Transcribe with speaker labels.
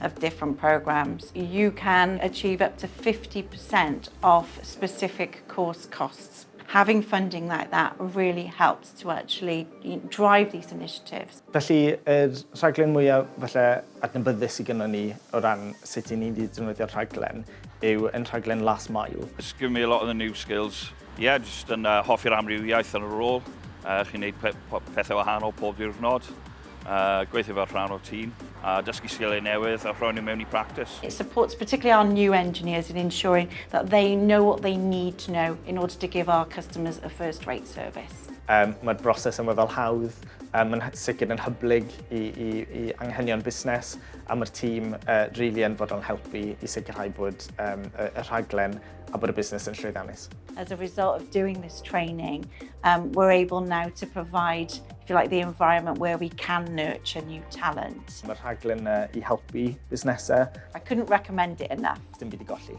Speaker 1: of different programmes, you can achieve up to 50% off specific course costs. Having funding like that really helps to actually drive these initiatives. Felly, yr rhaglen mwyaf falle adnabyddus sy gynnon ni o ran sut i ni ddefnyddio'r rhaglen yw yn rhaglen Last Mile. It's given me a lot of the new skills. Ie, jyst yn hoffi'r amrywiaeth yn y rôl. Chi'n neud pethau wahanol pob diwrnod. uh, gweithio fel rhan o'r tîm a dysgu sgiliau newydd a rhoi nhw mewn i practice. It supports particularly our new engineers in ensuring that they know what they need to know in order to give our customers a first-rate service. Um, Mae'r broses yma fel hawdd, um, mae'n sicr yn hyblyg i, i, i anghenion busnes a mae'r tîm uh, really yn fod o'n helpu i sicrhau bod um, y, y rhaglen a bod y busnes yn llwyddiannus. As a result of doing this training, um, we're able now to provide, if you like, the environment where we can nurture new talent. Mae'r rhaglen uh, i helpu busnesau. I couldn't recommend it enough. Dim byd i golli.